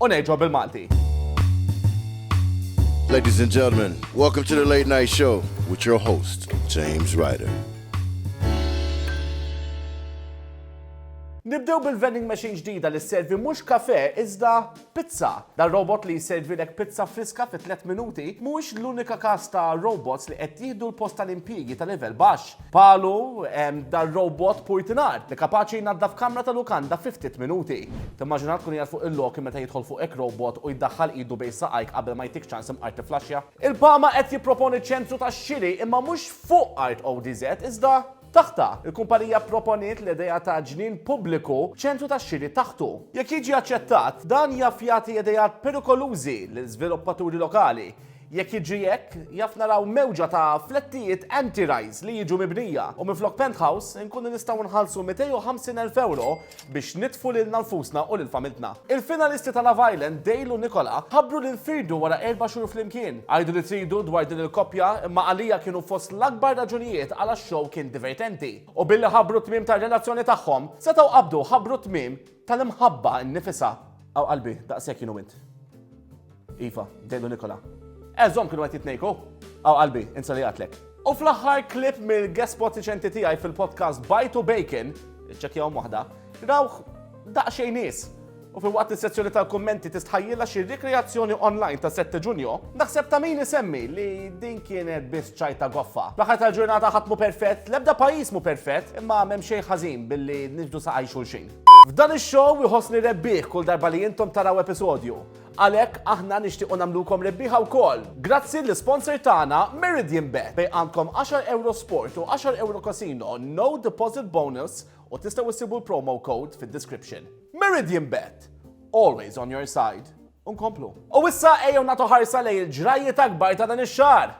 U ngħidwa bil-Malti. Ladies and gentlemen, welcome to the late night show with your host, James Ryder. Nibdew bil-vending machine ġdida li servi mhux kafe iżda pizza. Da robot li jservilek pizza friska fi 3 minuti mhuwiex l-unika każ ta' robots li qed jieħdu l-post tal-impjiegi ta' livell baxx. Bħalu hemm dar-robot purtinar li kapaċi jnaddaf kamra ta' lukanda fi ftit minuti. Timmaġina tkun qiegħed fuq il-loki meta jidħol fuq hekk robot u jdaħħal idu bejn saqajk qabel ma jtik ċans imqar tifflaxxja? Il-PAMA qed jipproponi ċentru tax-xiri imma mhux fuq art ODZ iżda taħtha. Il-kumpanija pproponiet l-idea ta' ġnien pubbliku b'ċentru tax-xiri taħtu. Jekk jiġi aċċettat, dan jaf jagħti ideat perikolużi lil żviluppaturi lokali. Jekk jiġri hekk, jaf naraw mewġa ta' flettijiet anti-rise li jiġu mibnija u minflok penthouse inkunu nistgħu nħallsu 250 elf ewro biex nitfu lilna nfusna u lil familtna. Il-finalisti ta' Love Island, Dale u Nicola, ħabbru li nfirdu wara erba' xhur flimkien. Għidu li tridu dwar din il-koppja imma għalija kienu fost l-akbar raġunijiet għala x-show kien divertenti. U billi ħabbru t-tmiem tar-relazzjoni tagħhom, setgħu qabdu ħabbru t-tmiem Tal-imħabba nnifisha, aw qalbi, daqshekk jien u int. Iva, dejlu Nikola. Eżhom kienu qed jitnejku, aw qalbi, insa li qatlek. U fl-aħħar klip mill-gespot riċenti tiegħi fil-podcast Bajt u Bacon, iċċekkjahom waħda, rawh daqsxejn nies. U filwaqt is-sezzjoni tal-kummenti tistħajjilha xi rikreazzjoni online ta' Sette Ġunju, Naħseb ta' min isemmi li din kienet biss ċajta goffa. L-aħħar tal-ġurnata ħadd mhu perfett, l-ebda pajjiż mhu perfett, imma m'hemm xejn ħażin billi niġbdu saqajn xulxin. F'dan ix-show iħossni rebbieħ kull darba li intom taraw episodju. Għalhekk aħna nixtiequ nagħmlukom rebbieħa wkoll. Grazzi lis-sponsor tagħna Meridianbet bejn għandkom 10 ewro sport u 10 ewro casino no deposit bonus u tistgħu ssibu l-promo code fid-description. Meridianbet! Always on your side. u nkomplu. U issa ejjew nagħtu ħarsa lejn il-ġrajjiet akbar ta' dan ix-xahar.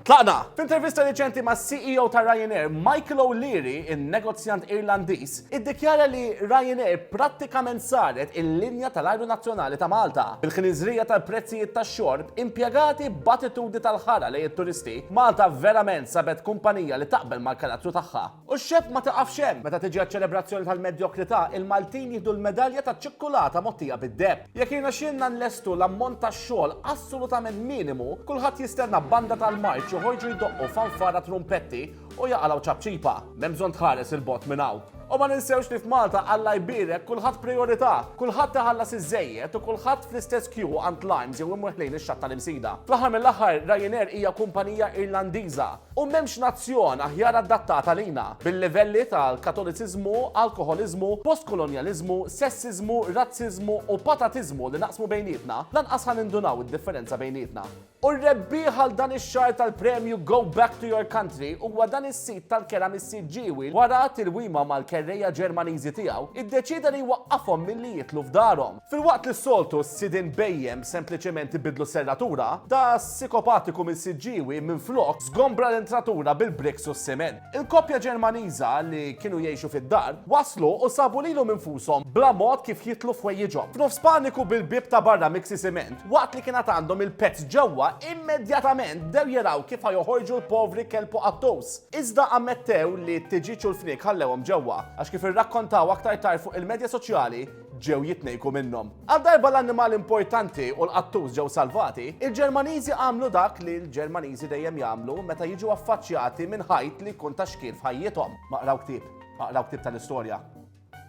Tlaqna! F'intervista riċenti mas-CEO ta' Ryanair, Michael O'Leary, in-negozjant Irlandiż, iddikjara li Ryanair prattikament saret il-linja tal-ajru nazzjonali ta' Malta. Bil-ħnieżrija tal-prezzijiet tax-xorb, impjegati b'attitudni tal-ħara lejn it-turisti, Malta verament sabet kumpanija li taqbel mal-karattru tagħha. U x-xebh ma tiqafx hemm. Meta tiġi għaċ-ċelebrazzjoni tal-medjokrità, il-Maltin jieħdu l-medalja taċ-ċikkulata mogħtija bid-deheb. Jekk jirnexxielna nlestu l-ammont ta' xogħol assolutament minimu, kulħadd jistenna banda tal-marċ joħorġu jdoqqu fanfara trumpetti u jaqalgħu ċapċipa. M'hemm bżonn tħares 'il bogħod minn hawn. U ma ninsewx li f'Malta Alla jbierek kulħadd prijorità. Kulħadd iħallas iż-żejjed u kulħadd fl-istess kju għand Limes jew imur ħlejn ix-xatt tal-Imsida. Fl-aħħar mill-aħħar, Ryanair hija kumpanija Irlandiża. U m'hemmx nazzjon aħjar addattata lina, bil-livelli tal-Katoliċiżmu, alkoħoliżmu, postkolonjaliżmu, sessiżmu, razziżmu u patatiżmu li naqsmu bejnietna, lanqas ħa nindunaw id-differenza bejnietna. U r-rebbieħ għal dan ix-xahar tal-premju Go Back to Your Country huwa dan is-sid tal-kera mis-sid ġiewi wara tilwima mal-kerrejja Ġermaniżi tiegħu, iddeċieda li jwaqqafhom milli jidħlu f'darhom. Filwaqt li s-soltu s-sidien bhejjem sempliċement ibiddlu s-serratura, da s-sikopatiku minn Siġġiewi minflok żgombra l-entratura bil-bricks u s-siment. Il-koppja Ġermaniża li kienu jgħixu fid-dar, waslu u sabu lilhom infushom bla mod kif jidħlu f'ħwejjiġhom. F'nofs paniku bil-bieb ta' barra miksi siment, waqt li kien għad għandhom il-pezz ġewwa, immedjatament bdew jaraw kif ħa joħorġu l-povri kelb u qattus. Iżda ammettew li t-tiġieġ u l-fniek ħallewhom ġewwa, għax kif irrakkontaw aktar tard fuq il-medja soċjali, ġew jitnejku minnhom. Għal darba l-annimali importanti u l-qattus ġew salvati, il-Ġermaniżi għamlu dak li l-Ġermaniżi dejjem jagħmlu meta jiġu affaċċjati minn ħajt li jkun ta' xkiel f'ħajjithom. Ma qraw ktieb, ma qraw ktieb tal-istorja.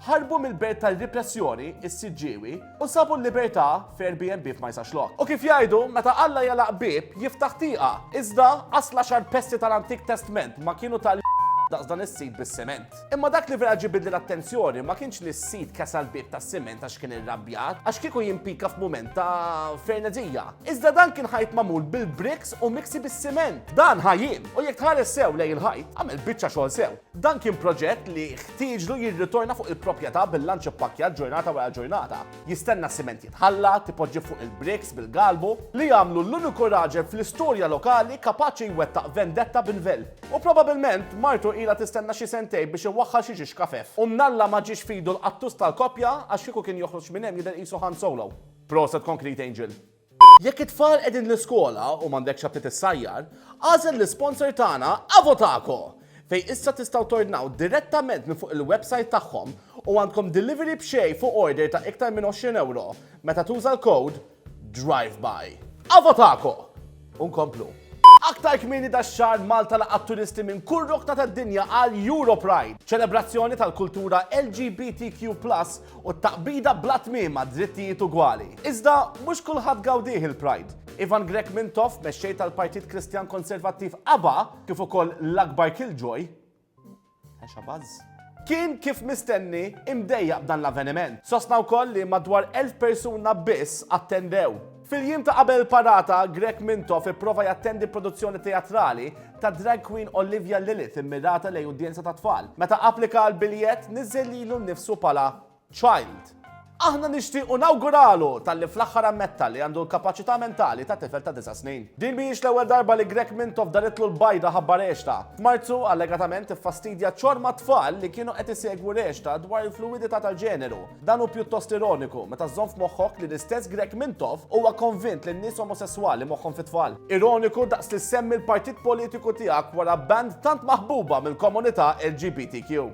Ħarbu mill-belt tar-ripressjoni, is-siġġiewi, u sabu l-libertà f'Airbnb f'ma jisax lok. U kif jgħidu, meta Alla jalaq bieb, jiftaħ tieqa. Iżda, asla xar pesti tal-Antik Testment ma kienu tal daqs dan is-sid bis-siment. Imma dak li vera ġibidli l-attenzjoni ma kienx li s-sid kesa l-bib ta' siment għax kien irrabjat, għax kieku jimpika f'mument ta' frenezija. Iżda dan kien ħajt mamul bil-briks u miksi bis-siment. Dan ħajjin, u jekk tħares sew lej il-ħajt, għamel biċċa xogħol sew. Dan kien proġett li ħtieġlu jirritorna fuq il-propjeta bil-lanċ ippakkjat ġurnata wara ġurnata. Jistenna s-siment jitħalla, tipoġġi fuq il-bricks bil-galbu, li jagħmlu l-uniku raġel fl-istorja lokali kapaċi jwettaq vendetta b'nvel. U probabilment martu ilha tistenna xi sentejn biex iwaħħal xi ġiex kafef. U mnalla ma ġiex f'idu l-qattus tal-koppja għax kieku kien joħroġ minn hemm jidher qisu Han Solo. Proset Concrete Angel! Jekk it-tfal qegħdin l-iskola u m'għandekx għad titissajjar, agħżel l-isponsor tagħna Avotaco! Fejn issa tistgħu tordnaw direttament minn fuq il-websajt tagħhom u għandkom delivery b'xejn fuq order ta' iktar minn għoxrin ewro meta tuża l-kowd DRIVEBY. Avotaco! U nkomplu. Aktar kmieni dax-xahar Malta laqgħet turisti minn kull rokna tad-dinja għal Europride, ċelebrazzjoni tal-kultura LGBTQ+ U t-taqbida bla tmiem għad-drittijiet ugwali. Iżda mhux kulħadd gawdih il-Pride. Ivan Grech Mintoff, mexxej tal-Partit Kristjan Konservattiv aba, kif ukoll l-akbar killjoy, Hesha Buzz, kien kif mistenni imdejjaq b'dan l-avveniment. Sostna wkoll li madwar elf persuna biss attendew. Fil-jiem ta' qabel il-parata, Grech Mintoff ipprova jattendi produzzjoni teatrali ta' drag queen Olivia Lilith immirata lejn udjenza ta' tfal. Meta applika għall-biljett, niżżel lilu nnifsu bħala child. Aħna nixtiequ nawguralu talli fl-aħħar ammetta li għandu l-kapaċità mentali ta' tifel ta' disa' snin. Din mhijiex l-ewwel darba li Grech Mintoff daritlu l-bajda ħabba rexta. F'Marzu, allegatament iffastidja ċorma tfal li kienu qed isegwu rexta dwar il-fluwidità tal-ġeneru. Dan hu pjuttost ironiku, meta żżomm f'moħħok li l-istess Grech Mintoff huwa konvint li n-nies omosesswali moħħhom fit-tfal. Ironiku daqs li ssemmi l-partit politiku tiegħek wara band tant maħbuba mill-komunità LGBTQ.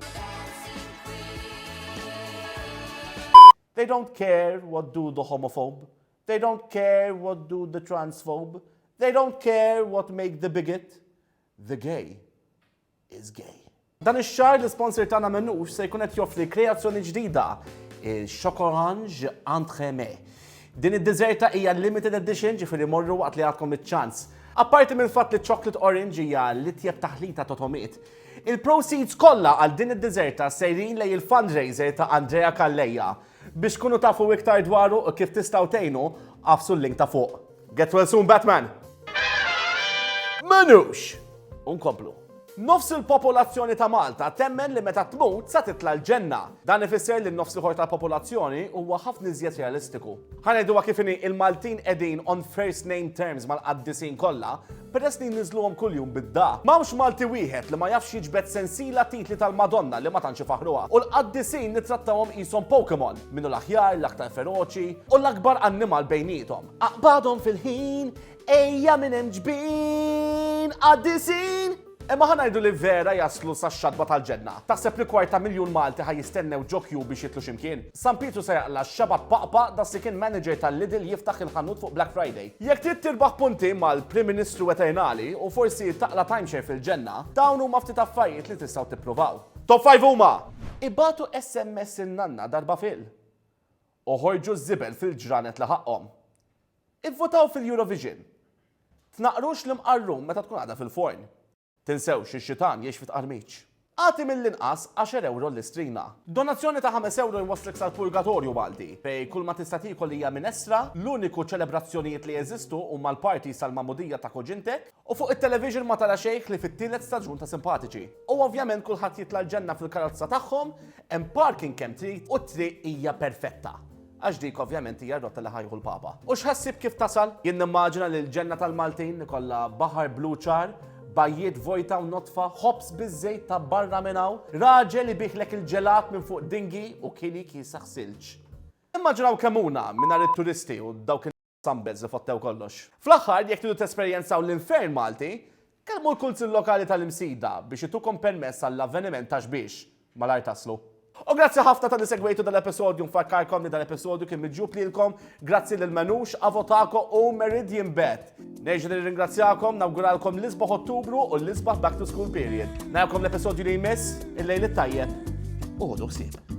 They don't care what do the homophobe. They don't care what do the transphobe. They don't care what make the bigot. The gay. is gay. Dan ix-xahar l-isponsor tagħna Menux se jkun qed joffri kreazzjoni ġdida, il-Chocorange Entremets. Din id-diżerta hija limited edition ġifieri morru waqt li għadkom iċ-ċans. Apparti mill-fatt li chocolate orange hija l-itjeb taħlita ta' tomiet, il-proceeds kollha għal din id-diżerta sejrin lejn il-fundraiser ta' Andrea Calleja. Biex tkunu tafu iktar dwaru u kif tistgħu tgħinu, agħfsu l-link ta' fuq. Get well soon, Batman! Manux! Unkomplu. Nofs il-popolazzjoni ta' Malta temmen li meta tmut sa titla' l-ġenna. Dan ifisser li n-nofs l-ieħor tal-popolazzjoni huwa ħafna iżjed realistiku. Ħa ngħiduha kif inhi, il-Maltin qegħdin on first name terms mal-qaddisin kollha, peress li jniżluhom kuljum bid-daqq. M'hawnx Malti wieħed li ma jafx jiġbed sensiela titli tal-Madonna li ma tantx ifaħħruha. U l-qaddisin nittrattawhom qishom Pokemon, min hu l-aħjar, l-aktar feroċi, u l-akbar annimal bejniethom. Aqbadhom fil-ħin, ejja minn hemm ġbin, qaddisin! Imma ħa ngħidu li vera jaslu sax-xatba tal-ġenna. Taħseb li kwarta miljun Malti ħa jistennew ġo kju biex jitlu x'imkien? San Pietru se jaqla' x-xebgħa b'paqpa' das-sikin manager tal-Lidl jiftaħ il-ħanut fuq Black Friday. Jekk trid tirbaħ punti mal-Prim Ministru eternali u forsi taqla' timeshare fil-Ġenna, dawn huma ftit affarijiet li tistgħu tippruvaw. Top Five huma! Ibagħtu SMS in-nanna darba fil. Oħorġu ż-żibel fil-ġranet li ħaqqhom. Ivvutaw fil-Eurovision. Tnaqqrux l-imqarrun meta tkun għadha fil-forn. Tinsewx li x-xitan jgħix fi tqarmiċ. Agħti mill-inqas għaxer ewro l-istrina. Donazzjoni ta' ħames ewro jwasslek sal-purgatorju Malti, fejn kull ma tista' tiekol hija minestra, l-uniku ċelebrazzjonijiet li jeżistu huma l-parties tal-magħmudija ta' kuġintek, u fuq it-television ma tara xejn ħlief it-tielet staġun ta' Simpatiċi. U ovvjament kulħadd jitla' l-ġenna fil-karozza tagħhom, hemm parking kemm trid u t-triq hija perfetta. Għax dik ovvjament hija r-rotta li ħa jieħu l-Papa. U x'ħassib kif tasal? Jien nimmaġina li l-ġenna tal-Maltin ikollha baħar blu ċar, bajjiet vojta u nodfa, ħobż biż-żejt ta' barra minn hawn, raġel ibiegħlek il-ġelat minn fuq dinghy u kili kiesaħ silġ. Immaġinaw kemm huna mingħajr it-turisti u dawk Sambes li fottew kollox. Fl-aħħar, jekk tridu tesperjenzaw l-Infern Malti, kellmu l-Kunsill Lokali tal-Imsida biex itukom permess għall-avveniment ta' xbiex. Malajr taslu. U grazzi ħafna talli segwejtu dal-episodju, nfakkarkom li dal-episodju kien miġjub lilkom grazzi lil Manouche, Avo Taco u Meridianbet. Nerġa' nirringrazzjakom, nawguralkom l-isbaħ Ottubru u l-isbaħ back to school period. Narakom l-episodju li jmiss, il-lejl it-tajjeb u ħodu ħsieb.